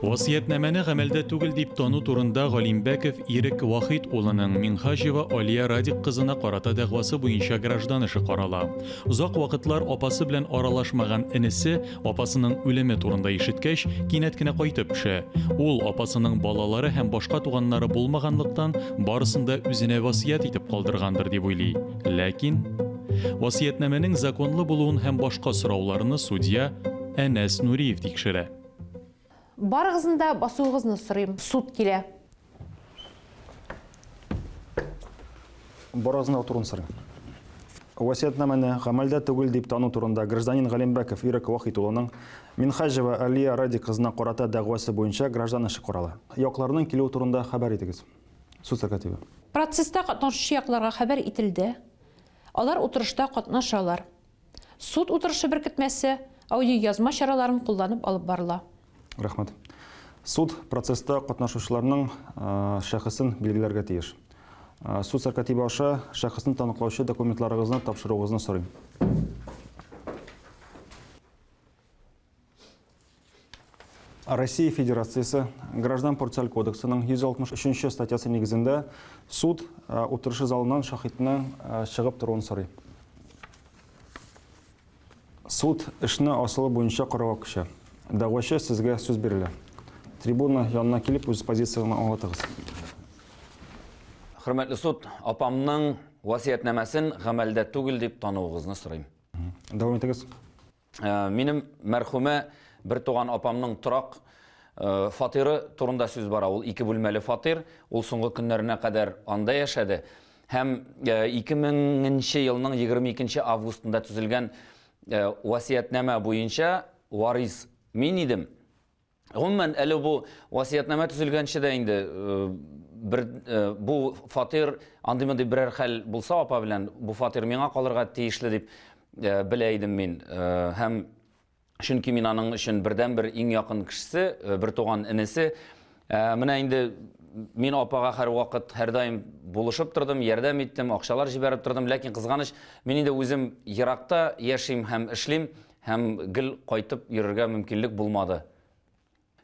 Васыятьнамәне гамәлдә түгел дип тану турында Галимбәков Ирек Вахит улының Минхаҗева Алия Радик кызына карата дәгъвасы буенча граждан эше карала. Озак вакытлар апасы белән аралашмаган энесе Апасының үлеме турында ишеткәч, кинәт кенә кайтып төшә. Ул апасының балалары һәм башка туганнары булмаганлыктан, барысын да үзенә васыять итеп калдыргандыр дип уйлый. Ләкин васыятьнамәнең законлы булуын һәм башка сорауларны судья Әнәс Нуриев тикшерә. Барыгызны да басуыгызны сорыйм. Суд килә. Барыгызны да утыруны сорыйм. Васиятнамәне гамәлдә түгел дип тану турында гражданин Галимбәков Ирек Вахит улының Минхаҗева Алия Радик кызына карата дәгъвасы буенча граждан эше карала. Якларның килүе турында хәбәр итегез. Суд сәркатибе. Процесста катнашучы якларга хәбәр ителде. Алар утырышта катнашалар. Суд утырышы беркетмәсе, аудиоязма чараларын кулланып алып барыла. Рәхмәт. Суд процесста катнашучыларның шәхесен билгеләргә тиеш. Суд сәркатибе аша шәхесне таныклаучы документларыгызны тапшыруыгызны сорыйм. Россия Федерациясе граждан процессуаль кодексының 163 статьясы нигезендә суд утырышы залыннан шахидның чыгып торуын сорый. Суд эшне асылы буенча карауга күчә. Дәгъвачы сезгә сүз бирелә. Трибуна янына килеп үз позицияне аңлатыгыз. Хөрмәтле суд, апамның васыятьнамәсен гамәлдә түгел дип тануыгызны сорыйм. Дәвам итегез. Минем мәрхүмә бертуган апамның торак фатиры турында сүз бара. Ул ике бүлмәле фатир. Ул соңгы көннәренә кадәр анда яшәде. Һәм 2000 нче елның 22 нче августында төзелгән васыятьнамә буенча варис мин идем. Гомумән, әле бу васыятьнамә төзелгәнче дә инде бер бу фатир андый мондый берәр хәл булса апа белән бу фатир миңа калырга тиешле дип белә идем мин. Һәм чөнки мин аның өчен бердәнбер иң якын кешесе, бертуган энесе. Менә инде мин апага һәрвакыт һәрдаим булышып тордым, ярдәм иттем, акчалар җибәреп тордым, ләкин кызганыч, мин инде үзем еракта яшим һәм эшлим, Һәм гел кайтып йөрергә мөмкинлек булмады.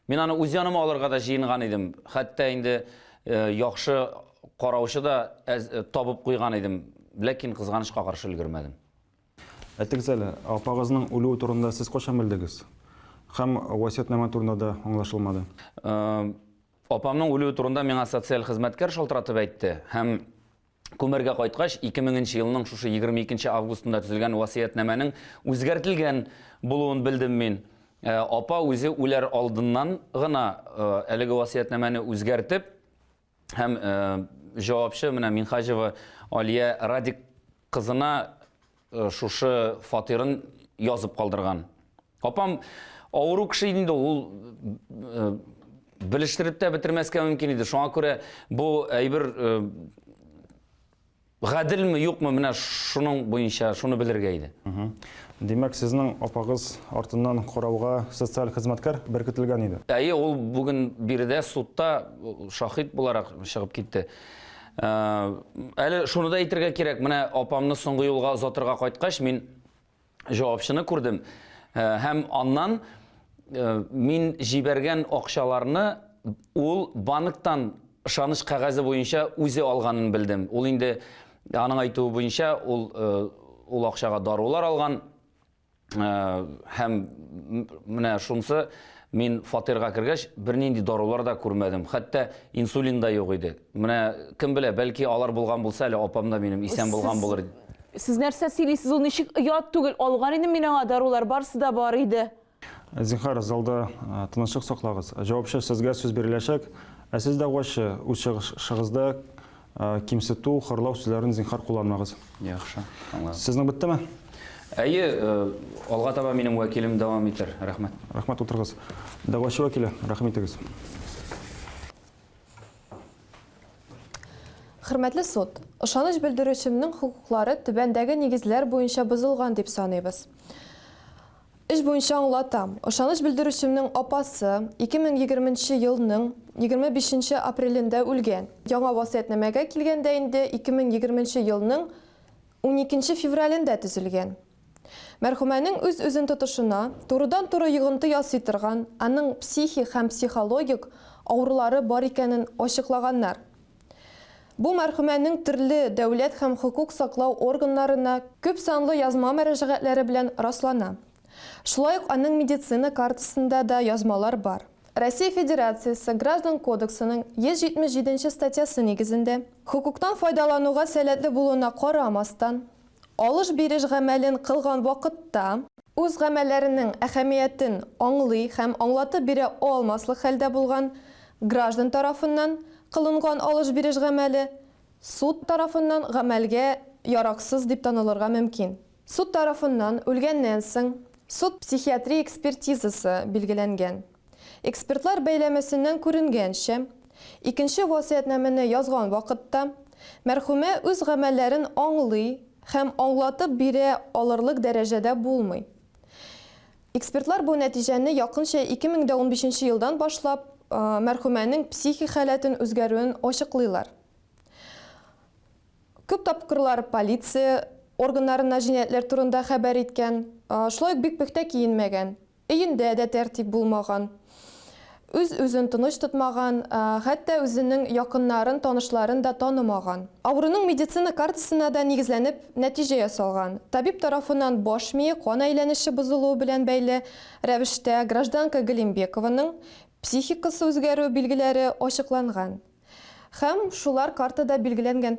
Мин аны үз яныма алырга да җыенган идем. Хәтта инде яхшы караучы да табып куйган идем, ләкин кызганычка каршы өлгермәдем. Әйтегез әле, апагызның үлүе турында сез кайчан белдегез? Һәм васыятьнамә турында да аңлашылмады. Апамның үлүе турында миңа социаль хезмәткәр шалтыратып әйтте һәм Күмергә кайткач, 2000 нче елның шушы 22 нче августында төзелгән васыятьнамәнең үзгәртелгән булуын белдем мин. Э, апа үзе үләр алдыннан гына э, әлеге васыятьнамәне үзгәртеп һәм э, җавапчы менә Минхаҗева Алия Радик кызына Э, шушы фатирын язып калдырган апам авыру кеше иде инде ул э, белештереп тә бетермәскә мөмкин иде шуңа күрә бу әйбер э, гаделме юкмы менә шуның буенча шуны белергә иде Димәк, сезнең апагыз артыннан карауга социаль хезмәткәр беркетелгән иде. Әйе, ул бүген биредә судта шахид буларак чыгып китте. Ә, әле шуны да әйтергә кирәк, менә апамны соңгы юлга озатырга кайткач, мин җавапчыны күрдем. Ә, һәм аннан ә, мин җибәргән акчаларны ул банктан ышаныч кәгазе буенча үзе алганын белдем. Ул инде аның әйтүе буенча ул ул акчага дарулар алган. һәм менә шунсы мин фатирга кергәч бернинди дарулар да күрмәдем хәтта инсулин да юк иде менә кем белә бәлки алар булган булса әле апам да минем исән булган булыр сез нәрсә сөйлисез ул ничек оят түгел алган идем мин аңа дарулар барысы да бар иде зинхар залда тынычлык саклагыз җавапчы сезгә сүз биреләчәк ә сез дәгъвачы үз чыгышыгызда кимсету, хорлау сүзләрен зинхар кулланмагыз. Яхшы, аңладым. Сезнең беттеме? Әйе, алга таба минем вәкилем дәвам итәр. Рәхмәт. Рәхмәт, утырыгыз. Дәгъвачы вәкиле, рәхим итегез. Хөрмәтле суд, ышаныч белдерүчемнең хокуклары түбәндәге нигезләр буенча бозылган дип саныйбыз. Эш буенча аңлатам. Ышаныч белдерүчемнең апасы 2020 нче елның 25 нче апрелендә үлгән. Яңа васыятьнамәгә килгәндә инде 2020 нче елның 12 нче февралендә төзелгән. Мәрхүмәнең үз-үзен тотышына, турыдан-туры йогынты ясый торган, аның психик һәм психологик авырулары бар икәнен ачыклаганнар. Бу мәрхүмәнең төрле дәүләт һәм хокук саклау органнарына күп санлы язма мөрәҗәгатьләре белән раслана. Шулай ук аның медицина картасында да язмалар бар. Россия Федерациясе Граждан кодексының 177 нче статьясы нигезендә, хокуктан файдалануга сәләтле булуына карамастан, Алыш-биреш гамәлен кылган вакытта. Үз гамәлләренең әһәмиятен аңлый һәм аңлатып бирә алмаслык хәлдә булган граждан тарафыннан кылынган алыш-биреш гамәле суд тарафыннан гамәлгә яраксыз дип танылырга мөмкин. Суд тарафыннан үлгәннән соң суд-психиатрия экспертизасы билгеләнгән. Экспертлар бәйләмәсеннән күренгәнчә, икенче васыятьнамәне язган вакытта мәрхүмә үз гамәлләрен аңлый һәм аңлатып бирә алырлык дәрәҗәдә булмый. Экспертлар бу нәтиҗәне якынча ике мең дә унбишенче елдан башлап мәрхүмәнең психик халәтен үзгәрүен ачыклыйлар. Күп тапкырлар полиция органнарына җинаятьләр турында хәбәр иткән, шулай ук бик пөхтә киенмәгән. Өендә дә тәртип булмаган. Үз-үзен тыныч тотмаган, хәтта үзенең якыннарын, танышларын да танымаган. Авыруның медицина картасына да нигезләнеп нәтиҗә ясалган. Табиб тарафыннан баш мие кан әйләнеше бозылуы белән бәйле рәвештә гражданка Галимбекованың психикасы үзгәрү билгеләре ачыкланган һәм шулар картада билгеләнгән.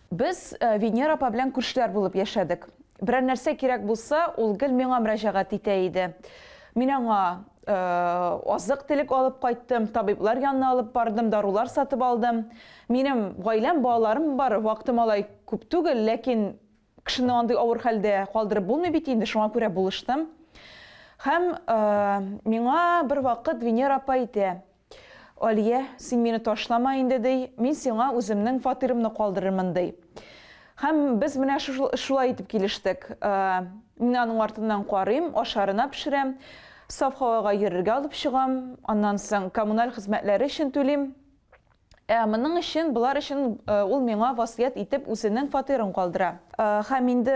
Без Венера апа белән күршеләр булып яшәдек. Берәр нәрсә кирәк булса, ул гел миңа мөрәҗәгать итә иде. Мин аңа азык телек алып кайттым, табиблар янына алып бардым, дарулар сатып алдым. Минем гаиләм, балаларым бар, вакытым алай күп түгел, ләкин кешене андый авыр хәлдә калдырып булмый бит инде, шуңа күрә булыштым. Һәм миңа бер вакыт Венера апа әйтә, Алия, син мине ташлама инде, ди, мин сиңа үземнең фатирымны калдырырмын, ди. Һәм без менә шулай итеп килештек. Мин аның артыннан карыйм, ашарына пешерәм, саф һавага йөрергә алып чыгам, аннан соң коммуналь хезмәтләре өчен түлим. Ә моның өчен, болар өчен ул миңа васыять итеп үзенең фатирын калдыра. Һәм инде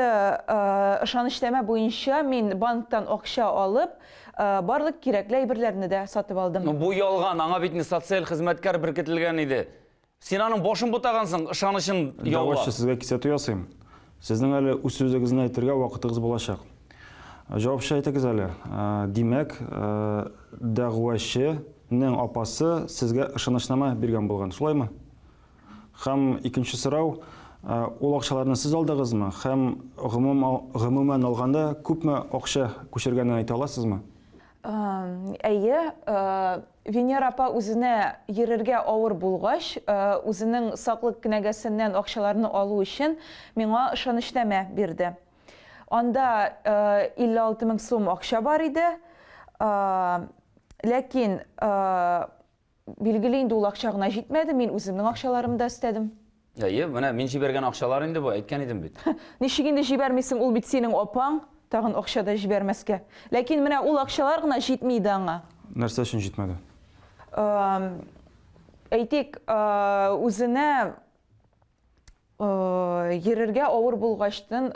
ышанычнамә буенча мин банктан акча алып, барлык кирәкле әйберләрне дә сатып алдым. Бу ялган, аңа бит инде социаль хезмәткәр беркетелгән иде. Син аның башын бутагансың, ышанычын яулап. Давай, сезгә кисәтү ясыйм. Сезнең әле үз сүзегезне әйтергә вакытыгыз булачак. Җавапча әйтегез әле. Димәк, дәгъвачы нең апасы сезгә ышанычнама биргән булган, шулаймы? Һәм икенче сорау, ул акчаларны сез алдыгызмы һәм гомумән алганда күпме акча күчергәнен әйтә аласызмы? Әйе, Венера апа үзенә йөрергә авыр булгач, үзенең саклык кенәгәсеннән акчаларны алу өчен миңа ышанычнамә бирде. Анда 56 мең сум акча бар иде. Ләкин Билгеле инде ул акча гына җитмәде, мин үземнең акчаларым да өстәдем. Әйе, менә мин җибәргән акчалар инде бу, әйткән идем бит. Ничек инде җибәрмисең, ул бит синең апаң, тагын акча да җибәрмәскә. Ләкин менә ул акчалар гына җитми иде аңа. Нәрсә өчен җитмәде? Әйтик, үзенә йөрергә авыр булгачтын,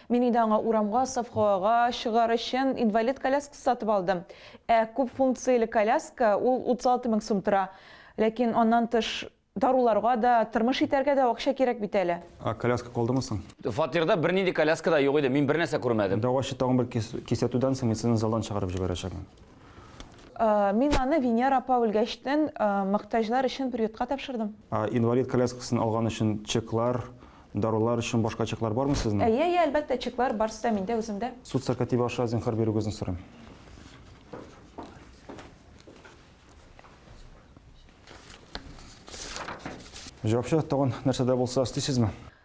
мин инде аңа урамга, совхоага чыгар өчен инвалид коляскасы сатып алдым. Ә күп функцияле коляска ул 36 мең сум тора. Ләкин аннан тыш даруларга да, тормыш итәргә дә акча кирәк бит әле. Ә коляска калдымы соң? Фатирда бернинди коляска да юк иде, мин бернәрсә күрмәдем. Дәгъвачы тагын бер кисәтүдән соң мин сезне залдан чыгарып җибәрәчәкмен. Мин аны Венера апа үлгәчтен мохтаҗлар өчен приютка тапшырдым. Инвалид коляскасын алган өчен чеклар, дарулар өчен башка чеклар бармы сезнең? Әйе, әйе, әлбәттә, чеклар барсы да миндә, үземдә. Суд сәркатибе аша зинһар бирүегезне сорыйм. Җавапчы, тагын нәрсә дә булса эслисезме?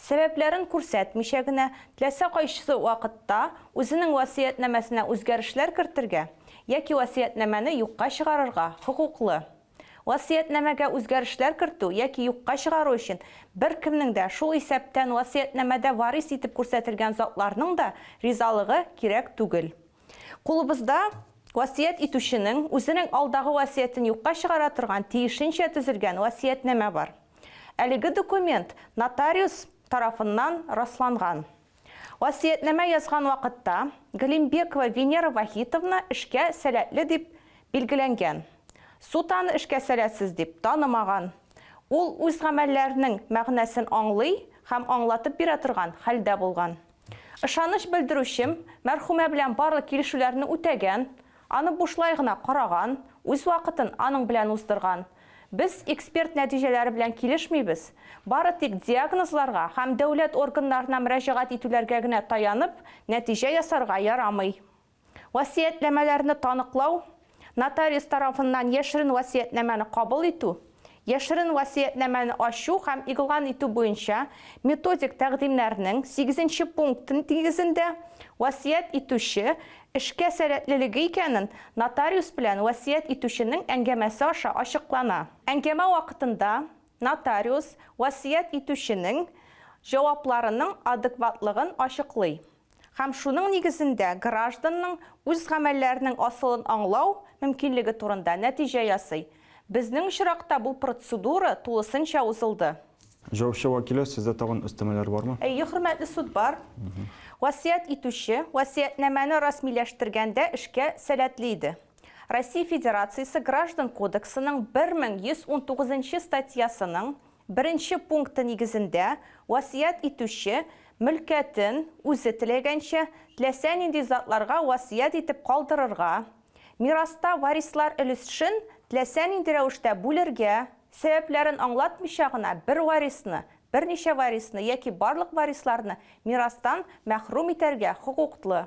Сәбәпләрен күрсәтмичә генә, теләсә кайсы вакытта үзенең васыятьнамәсенә үзгәрешләр кертергә яки васыятьнамәне юкка чыгарырга хокуклы. Васыятьнамәгә үзгәрешләр кертү яки юкка чыгару өчен беркемнең дә, шул исәптән васыятьнамәдә варис итеп күрсәтелгән затларның да ризалыгы кирәк түгел. Кулыбызда васыять итүченең үзенең алдагы васыятен юкка чыгара торган тиешенчә төзелгән васыятьнамә бар. Әлеге документ нотариус тарафыннан расланган. Васыятьнамә язган вакытта Галимбекова Венера Вахитовна эшкә сәләтле дип билгеләнгән. Суд аны эшкә сәләтсез дип танымаган. Ул үз гамәлләренең мәгънәсен аңлый һәм аңлатып бирә торган хәлдә булган. Ышаныч белдерүчем, мәрхүмә белән барлык килешүләрне үтәгән, аны бушлай гына караган, үз вакытын аның белән уздырган. Без эксперт нәтиҗәләре белән килешмибез, бары тик диагнозларга һәм дәүләт органнарына мөрәҗәгать итүләргә генә таянып, нәтиҗә ясарга ярамый. Васыятьнамәләрне таныклау, нотариус тарафыннан яшерен васыятьнамәне кабул итү, яшерен васыятьнамәне ачу һәм игълан итү буенча методик тәкъдимнәрнең сигезенче пункты нигезендә васыять итүче эшкә сәләтлелеге икәнен нотариус белән васыять итүченең әңгәмәсе аша ачыклана. Әңгәмә вакытында нотариус васыять итүченең җавапларының адекватлыгын ачыклый. һәм шуның нигезендә гражданның үз гамәлләренең асылын аңлау мөмкинлеге турында нәтиҗә ясый. Безнең очракта бу процедура тулысынча узылды. Җаваплы вәкиле, сездә тагын өстәмәләр бармы? Әйе, хөрмәтле суд, бар. Васыять итүче васыятьнамәне расмиләштергәндә эшкә сәләтле иде. Россия Федерациясе Граждан кодексының 1119 нчы статьясының Беренче пункты нигезендә, васыять итүче, мөлкәтен, үзе теләгәнчә, теләсә нинди затларга васыять итеп калдырырга, мираста варислар өлешшн теләсә нинди рәвештә бүлергә, сәбәпләрен аңлатмыйча гына бер варисны, берничә варисны яки барлык варисларны мирастан мәхрүм итәргә хокуклы.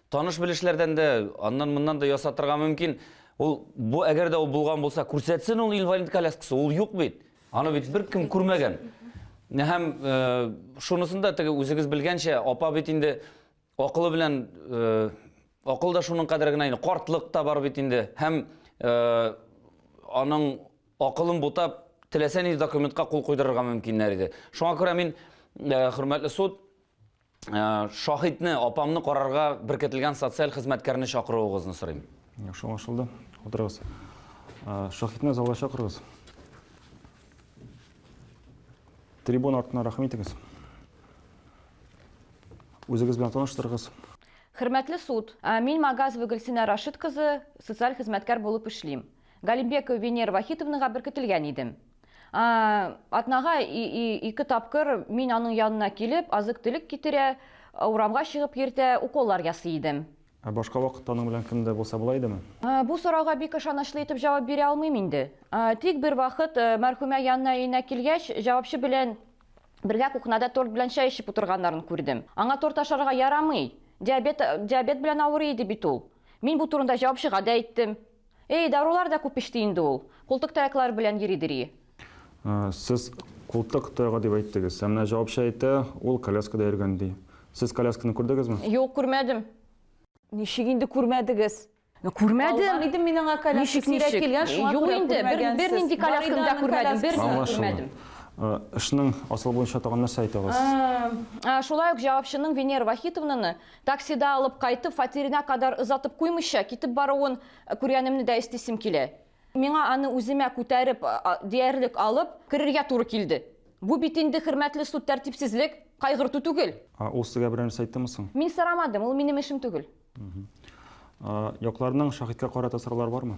Таныш-белешләрдән дә, аннан-моннан да ясатырга мөмкин. Ул бу әгәр дә ул булган булса, күрсәтсен ул инвалид коляскасы, ул юк бит. Аны бит беркем күрмәгән. Һәм э, шунысын да теге үзегез белгәнчә, апа бит инде акылы белән э, акыл да шуның кадәр генә инде, картлык та бар бит инде. Һәм э, аның акылын бутап, теләсә нинди документка кул куйдырырга мөмкиннәр иде. Шуңа күрә мин, хөрмәтле суд, Э, шаһитне апамны карарга беркетелгән социаль хезмәткәрне чакыруыгызны сорыйм яхшы аңлашылды утырыгыз э, шаһитны залга чакырыгыз трибун артына рәхим итегез үзегез белән таныштырыгыз хөрмәтле суд э, мин магазова гөлсинә рашид кызы социаль хезмәткәр булып эшлим галимбекова венера вахитовнага беркетелгән идем Атнага ике тапкыр мин аның янына килеп, азык-төлек китерә, урамга чыгып йөртә, уколлар ясый идем. Ә башка вакытта аның белән кем дә булса була идеме? Бу сорауга бик ышанычлы итеп җавап бирә алмыйм инде. Тик бер вакыт мәрхүмә янына өенә килгәч, җавапчы белән бергә кухняда торт белән чәй эчеп утырганнарын күрдем. Аңа торт ашарга ярамый, диабет белән авырый иде бит ул. Мин бу турында җавапчыга да әйттем. Эй, дарулар да күп эчте инде ул. Култык таяклар белән йөри дери. Сез култык таягы дип әйттегез. Ә менә җавапчы әйтә, ул коляскада йөргән ди. Сез колясканы күрдегезме? Юк, күрмәдем. Ничек инде күрмәдегез? Күрмәдем. Алган идем мин аңа коляска сирәк килгән, шуңа күрә күрмәгәнсез. Юк инде, бернинди колясканы да күрмәдем, бернинди күрмәдем. Эшнең асылы буенча тагын нәрсә әйтә аласыз? Шулай ук җавапчының Венера Вахитовнаны Таксида алып кайтып, фатирына кадәр озатып куймыйча, китеп баруын күргәнемне дә истисем килә. Миңа аны үземә күтәреп, диярлек алып, керергә туры килде. Бу бит инде, хөрмәтле суд, тәртипсезлек, кайгырту түгел. Ә ул сезгә берәр нәрсә әйттеме соң? Мин сорамадым, ул минем эшем түгел. Якларның шаһиткә карата сораулары бармы?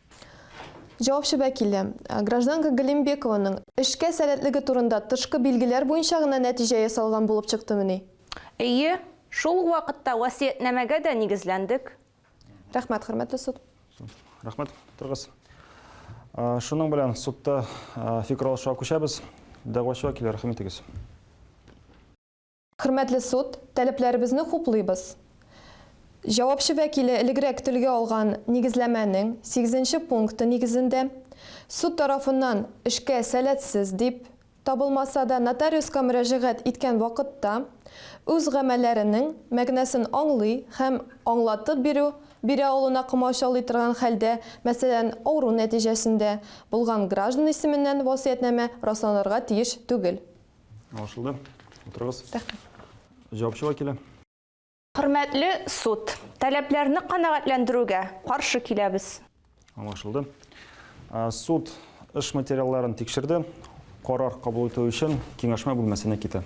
Җавапчы вәкиле, гражданка Галимбекованың эшкә сәләтлеге турында тышкы билгеләр буенча гына нәтиҗә ясалган булып чыктымыни? Әйе, шул ук вакытта васыятьнамәгә дә нигезләндек. Рәхмәт, хөрмәтле суд. Рәхмәт, утырыгыз. Шуның белән судта фикер алышуга күчәбез. Дәгъвачы вәкиле, рәхим итегез. Хөрмәтле суд, таләпләребезне хуплыйбыз. Җавапчы вәкиле элегрәк телгә алган нигезләмәнең сигезенче пункты нигезендә, суд тарафыннан эшкә сәләтсез дип табылмаса да, нотариуска мөрәҗәгать иткән вакытта үз гамәлләренең мәгънәсен аңлый һәм аңлатып бирү бирә алуына комачаулый торган хәлдә, мәсәлән, авыру нәтиҗәсендә булган граждан исеменнән васыятьнамә расланырга тиеш түгел. Аңлашылды. Утырыгыз. Рәхмәт. Җавапчыга килә. Хөрмәтле суд, таләпләрне канәгатьләндерүгә каршы киләбез. Аңлашылды. Суд эш материалларын тикшерде. Карар кабул итү өчен киңәшмә бүлмәсенә китә.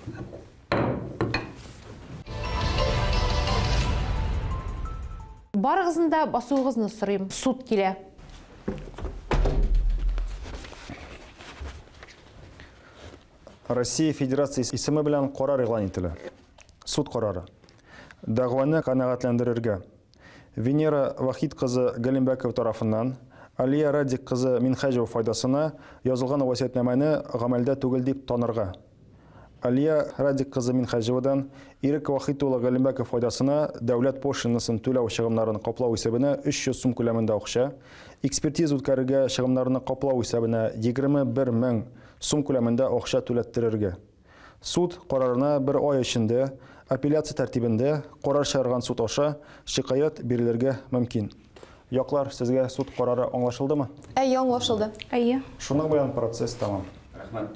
Барыгызны да басуыгызны сорыйм. Суд килә. Россия Федерациясе исеме белән карар игълан ителә. Суд карары. Дәгъваны канәгатьләндерергә. Венера Вахид кызы Галимбәкова тарафыннан Алия Радик кызы Минхәҗева файдасына язылган васиятнамәне гамәлдә түгел дип танырга. Алия Радик кызы Минхәҗевадан Ирек Вахид улы Галимбәков файдасына дәүләт пошлинасын түләү чыгымнарын каплау исәбенә 300 сум күләмендә акча, Экспертиза үткәрергә чыгымнарны каплау исәбенә 21 мең сум күләмендә акча түләттерергә. Суд карарына бер ай эчендә апелляция тәртибендә карар чыгарган суд аша шикаять бирелергә мөмкин. Яклар, сезгә суд карары аңлашылдымы? Әйе, аңлашылды. Әйе. Шуның белән процесс тәмам. Рәхмәт.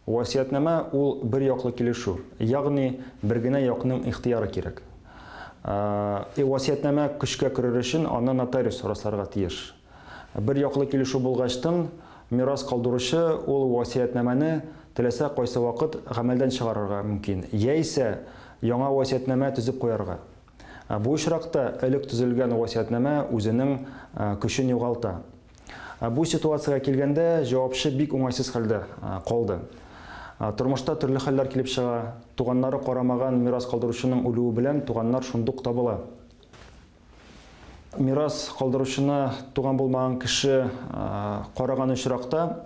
Васыятьнамә ул бер яклы килешү, ягъни бер генә якның ихтыяры кирәк. Э, васыятьнамә көчкә керер өчен аны нотариус расларга тиеш. Бер яклы килешү булгачтын, мирас калдыручы ул васыятьнамәне теләсә кайсы вакыт гамәлдән чыгарырга мөмкин, яисә яңа васыятьнамә төзеп куярга. Бу очракта элек төзелгән васыятьнамә үзенең көчен югалта. Бу ситуациягә килгәндә, җавапчы бик уңайсыз хәлдә калды. Тормышта төрле хәлләр килеп чыга. Туганнары карамаган мирас калдыручының үлүе белән туганнар шундук табыла. Мирас калдыручына туган булмаган кеше караган очракта,